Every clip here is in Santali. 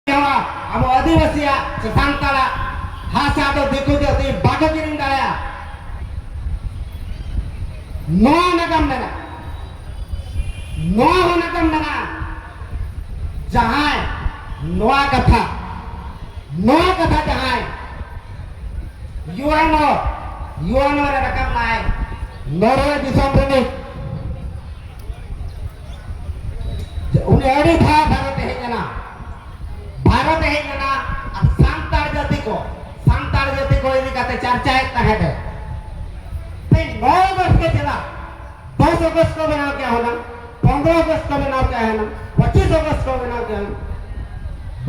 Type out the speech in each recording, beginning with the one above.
ᱡᱟᱣᱟ ᱟᱵᱚ ᱟᱹᱫᱤᱵᱟᱹᱥᱤᱭᱟᱜ ᱥᱮ ᱥᱟᱱᱛᱟᱲᱟᱜ ᱦᱟᱥᱟ ᱫᱚ ᱫᱤᱠᱩ ᱡᱟᱹᱛᱤ ᱵᱟᱠᱚ ᱠᱤᱨᱤᱧ ᱫᱟᱲᱮᱭᱟᱜᱼᱟ ᱱᱚᱣᱟ ᱱᱟᱜᱟᱢ ᱢᱮᱱᱟᱜᱼᱟ ᱱᱚᱣᱟ ᱦᱚᱸ ᱱᱟᱜᱟᱢ ᱢᱮᱱᱟᱜᱼᱟ ᱡᱟᱦᱟᱸᱭ ᱱᱚᱣᱟ ᱠᱟᱛᱷᱟ ᱱᱚᱣᱟ ᱠᱟᱛᱷᱟ ᱡᱟᱦᱟᱸᱭ ᱭᱩᱮᱱᱳ ᱭᱩᱮᱱᱳ ᱨᱮ ᱨᱟᱠᱟᱵ ᱞᱟᱭ ᱱᱚᱨᱣᱮ ᱫᱤᱥᱚᱢ ᱨᱤᱱᱤᱡ ᱩᱱᱤ ᱟᱹᱰᱤ ᱫᱷᱟᱣ ᱵᱷᱟᱨᱚᱛᱮ ᱦᱮᱡ ᱞᱮᱱᱟ ᱵᱷᱟᱨᱚᱛᱮ ᱦᱮᱡ ᱞᱮᱱᱟ ᱟᱨ ᱥᱟᱱᱛᱟᱲ ᱡᱟᱹᱛᱤ ᱠᱚ ᱥᱟᱱᱛᱟᱲ ᱡᱟᱹᱛᱤ ᱠᱚ ᱤᱫᱤ ᱠᱟᱛᱮ ᱪᱟᱨᱪᱟᱭᱮᱫ ᱛᱟᱦᱮᱸᱫ ᱮ ᱛᱮᱦᱮᱧ ᱱᱚ ᱟᱜᱚᱥᱴ ᱜᱮ ᱪᱮᱫᱟᱜ ᱫᱚᱥ ᱟᱜᱚᱥᱴ ᱠᱚ ᱵᱮᱱᱟᱣ ᱠᱮᱫ ᱦᱚᱞᱟ ᱯᱚᱱᱨᱚ ᱟᱜᱚᱥᱴ ᱠᱚ ᱵᱮᱱᱟᱣ ᱠᱮᱫ ᱦᱚᱞᱟ ᱯᱚᱸᱪᱤᱥ ᱟᱜᱚᱥᱴ ᱠᱚ ᱵᱮᱱᱟᱣ ᱠᱮᱫ ᱦᱚᱞᱟ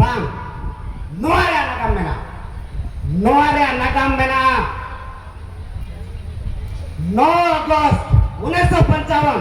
ᱵᱟᱝ ᱱᱚᱣᱟ ᱨᱮᱭᱟᱜ ᱱᱟᱜᱟᱢ ᱢᱮᱱᱟᱜᱼᱟ ᱱᱚᱣᱟ ᱨᱮᱭᱟᱜ ᱱᱟᱜᱟᱢ ᱢᱮᱱᱟᱜᱼᱟ ᱱᱚ ᱟᱜᱚᱥᱴ ᱩᱱᱤᱥᱥᱚ ᱯᱚᱧᱪᱟᱣᱚᱱ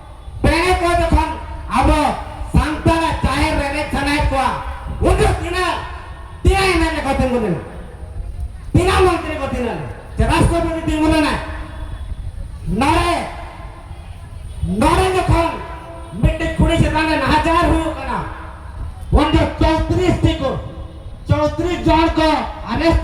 ᱯᱮᱲᱟ ᱠᱚ ᱡᱚᱠᱷᱚᱱ ᱟᱵᱚ ᱥᱟᱱᱛᱟᱲᱟᱜ ᱡᱟᱦᱮᱨ ᱨᱮ ᱮᱱᱮᱡ ᱥᱟᱱᱟᱭᱮᱫ ᱠᱚᱣᱟ ᱩᱫᱩᱜ ᱛᱤᱱᱟᱹᱜ ᱛᱤᱱᱟᱹᱜ ᱮᱱᱮᱡ ᱨᱮᱠᱚ ᱛᱤᱸᱜᱩ ᱞᱮᱱᱟ ᱛᱤᱱᱟᱹᱜ ᱢᱚᱱᱛᱨᱤ ᱠᱚ ᱛᱤᱱᱟᱹᱜ ᱞᱮᱱᱟ ᱥᱮ ᱨᱟᱥᱴᱨᱚᱯᱚᱛᱤ ᱛᱤᱸᱜᱩ ᱞᱮᱱᱟᱭ ᱱᱚᱰᱮ ᱱᱚᱰᱮ ᱡᱚᱠᱷᱚᱱ ᱢᱤᱫᱴᱮᱡ ᱠᱩᱲᱤ ᱪᱮᱛᱟᱱ ᱨᱮ ᱱᱟᱦᱟᱪᱟᱨ ᱦᱩᱭᱩᱜ ᱠᱟᱱᱟ ᱩᱱ ᱫᱚ ᱪᱚᱣᱛᱨᱤᱥ ᱴᱤ ᱠᱚ ᱪᱚᱣᱛᱨᱤᱥ ᱡᱚᱱ ᱠᱚ ᱟᱨᱮᱥᱴ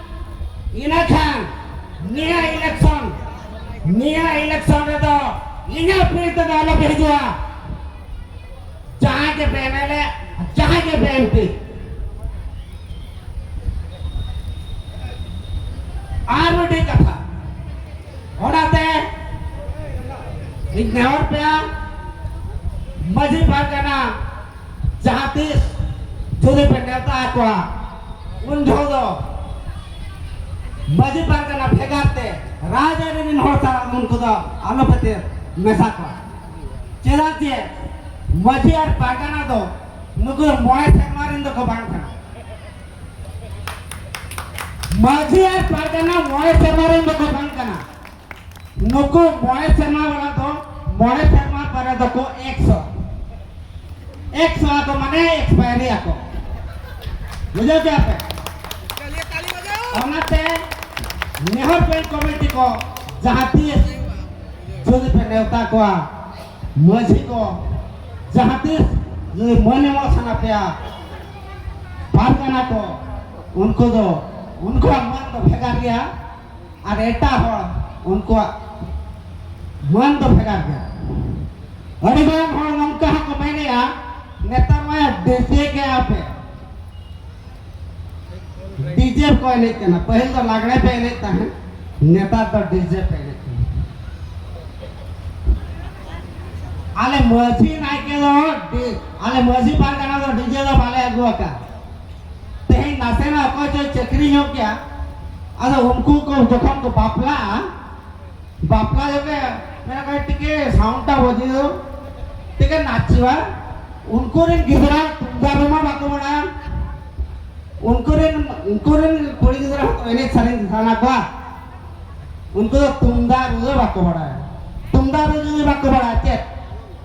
ᱤᱱᱟᱹᱠᱷᱟᱱ ᱱᱤᱭᱟᱹ ᱤᱞᱮᱠᱥᱚᱱ ᱱᱤᱭᱟᱹ ᱤᱞᱮᱠᱥᱚᱱ ᱨᱮᱫᱚ ᱤᱧᱟᱹᱜ ᱯᱤᱲ ᱛᱮᱫᱚ ᱟᱞᱚ ᱯᱮ ᱦᱤᱡᱩᱜᱼᱟ ᱡᱟᱦᱟᱸᱭ ᱜᱮ ᱯᱮ ᱮᱢᱮᱞᱮ ᱡᱟᱦᱟᱸᱭ ᱜᱮ ᱯᱮ ᱮᱢᱯᱤ ᱟᱨ ᱢᱤᱫᱴᱤᱡ ᱠᱟᱛᱷᱟ ᱚᱱᱟᱛᱮ ᱤᱧ ᱱᱮᱦᱚᱨ ᱯᱮᱭᱟ ᱢᱟᱺᱡᱷᱤ ᱯᱟᱨᱜᱟᱱᱟ ᱡᱟᱦᱟᱸ ᱛᱤᱥ ᱡᱩᱫᱤ ᱯᱮ ᱱᱮᱣᱛᱟ ᱟᱠᱚᱣᱟ ᱩᱱ ᱡᱚᱦᱚᱜ ᱫᱚ ᱢᱟᱹᱡᱷᱤ ᱯᱟᱨᱜᱟᱱᱟ ᱵᱷᱮᱜᱟᱨ ᱛᱮ ᱨᱟᱡᱽᱟᱹᱨᱤ ᱨᱮᱱ ᱦᱚᱲ ᱥᱟᱞᱟᱜ ᱩᱱᱠᱩ ᱫᱚ ᱟᱞᱚ ᱯᱮ ᱢᱮᱥᱟ ᱠᱚᱣᱟ ᱪᱮᱫᱟᱜ ᱡᱮ ᱢᱟᱹᱡᱷᱤ ᱟᱨ ᱯᱟᱨᱜᱟᱱᱟ ᱫᱚ ᱱᱩᱠᱩ ᱢᱚᱬᱮ ᱥᱮᱨᱢᱟ ᱨᱮᱱ ᱫᱚᱠᱚ ᱵᱟᱝ ᱠᱟᱱᱟ ᱢᱟᱹᱡᱷᱤ ᱟᱨ ᱯᱟᱨᱜᱟᱱᱟ ᱢᱚᱬᱮ ᱥᱮᱨᱢᱟ ᱨᱮᱱ ᱫᱚᱠᱚ ᱵᱟᱝ ᱠᱟᱱᱟ ᱱᱩᱠᱩ ᱢᱚᱬᱮ ᱥᱮᱨᱢᱟ ᱵᱟᱞᱟ ᱫᱚ ᱢᱚᱬᱮ ᱥᱮᱨᱢᱟ ᱯᱚᱨᱮ ᱫᱚᱠᱚ ᱮᱠᱥᱚ ᱮᱠᱥᱚ ᱟᱠᱚ ᱢᱟᱱᱮ ᱮᱠᱥᱯᱟᱭᱨᱤ ᱟᱠᱚ ᱵᱩᱡᱷᱟᱹᱣ ᱠᱮᱫᱟ ᱯᱮ ᱚᱱᱟᱛᱮ ᱱᱮᱦᱚᱨ ᱯᱮᱱ ᱠᱚᱢᱤᱴᱤ ᱠᱚ ᱡᱟᱦᱟᱸ ᱛᱤᱥ ᱡᱩᱫᱤ ᱯᱮ ᱱᱮᱣᱛᱟ ᱠᱚᱣᱟ ᱢᱟᱹᱡᱷᱤ ᱠᱚ ᱡᱟᱦᱟᱸ ᱛᱤᱥ ᱡᱩᱫᱤ ᱢᱟᱹᱱ ᱮᱢᱚᱜ ᱥᱟᱱᱟ ᱯᱮᱭᱟ ᱯᱟᱨᱜᱟᱱᱟ ᱠᱚ ᱩᱱᱠᱩ ᱫᱚ ᱩᱱᱠᱩᱣᱟᱜ ᱢᱟᱹᱱ ᱫᱚ ᱵᱷᱮᱜᱟᱨ ᱜᱮᱭᱟ ᱟᱨ ᱮᱴᱟᱜ ᱦᱚᱲ ᱩᱱᱠᱩᱣᱟᱜ ᱢᱟᱹᱱ ᱫᱚ ᱵᱷᱮᱜᱟᱨ ᱜᱮᱭᱟ ᱟᱹᱰᱤ ᱜᱟᱱ ᱦᱚᱲ ᱱᱚᱝᱠᱟ ᱦᱚᱸᱠᱚ ᱢᱮᱱᱮᱜᱼᱟ ᱱᱮᱛᱟᱨ ᱢᱟ ᱰᱤᱡᱮ ᱜᱮ ᱟᱯᱮ ᱰᱤᱡᱮ ᱠᱚ ᱮᱱᱮᱡ ᱠᱟᱱᱟ ᱯᱟᱹᱦᱤᱞ ᱫᱚ ᱞᱟᱜᱽᱲᱮ ᱯᱮ ᱮᱱᱮᱡ ᱛᱟᱦᱮᱸᱫ ᱱᱮᱛᱟᱨ ᱫᱚ ᱰᱤᱡᱮ ᱯᱮ ᱮᱱᱮᱡ ᱠᱟᱱᱟ ᱟᱞᱮ ᱢᱟᱹᱡᱷᱤ ᱱᱟᱭᱠᱮ ᱫᱚ ᱟᱞᱮ ᱢᱟᱹᱡᱷᱤ ᱯᱟᱨᱜᱟᱱᱟ ᱫᱚ ᱰᱤᱡᱮ ᱫᱚ ᱵᱟᱞᱮ ᱟᱹᱜᱩ ᱟᱠᱟᱫ ᱛᱮᱦᱮᱧ ᱱᱟᱥᱮᱱᱟᱜ ᱚᱠᱚᱭ ᱪᱚᱭ ᱪᱟᱹᱠᱨᱤ ᱧᱚᱜ ᱜᱮᱭᱟ ᱟᱫᱚ ᱩᱱᱠᱩ ᱠᱚ ᱡᱚᱠᱷᱚᱱ ᱠᱚ ᱵᱟᱯᱞᱟᱜᱼᱟ ᱵᱟᱯᱞᱟ ᱡᱚᱠᱷᱮ ᱢᱮᱱᱟ ᱠᱚ ᱴᱤᱠᱮ ᱥᱟᱣᱩᱱᱰᱴᱟ ᱵᱟᱡᱤ ᱫᱚ ᱴᱤᱠᱮ ᱱᱟᱪᱤᱣᱟ ᱩᱱᱠᱩ ᱨᱮᱱ ᱜᱤᱫᱽᱨᱟᱹ ᱛᱩᱢᱫᱟᱜ ᱨᱩᱢᱟ ᱵᱟᱠᱚ ᱵᱟᱲᱟᱭᱟ ᱩᱱᱠᱩ ᱨᱮᱱ ᱩᱱᱠᱩ ᱨᱮᱱ ᱠᱩᱲᱤ ᱜᱤᱫᱽᱨᱟᱹ ᱦᱚᱸ ᱮᱱᱮᱡ ᱥᱮᱨᱮᱧ ᱥᱟᱱᱟ ᱠᱚᱣᱟ ᱩᱱᱠᱩ ᱫᱚ ᱛᱩᱢᱫᱟᱜ ᱨᱩ ᱫᱚ ᱵᱟᱠᱚ ᱵᱟᱲᱟᱭᱟ ᱛᱩᱢᱫᱟᱜ ᱨᱩ ᱡᱩᱫᱤ ᱵᱟᱠᱚ ᱵᱟᱲᱟᱭᱟ ᱪᱮᱫ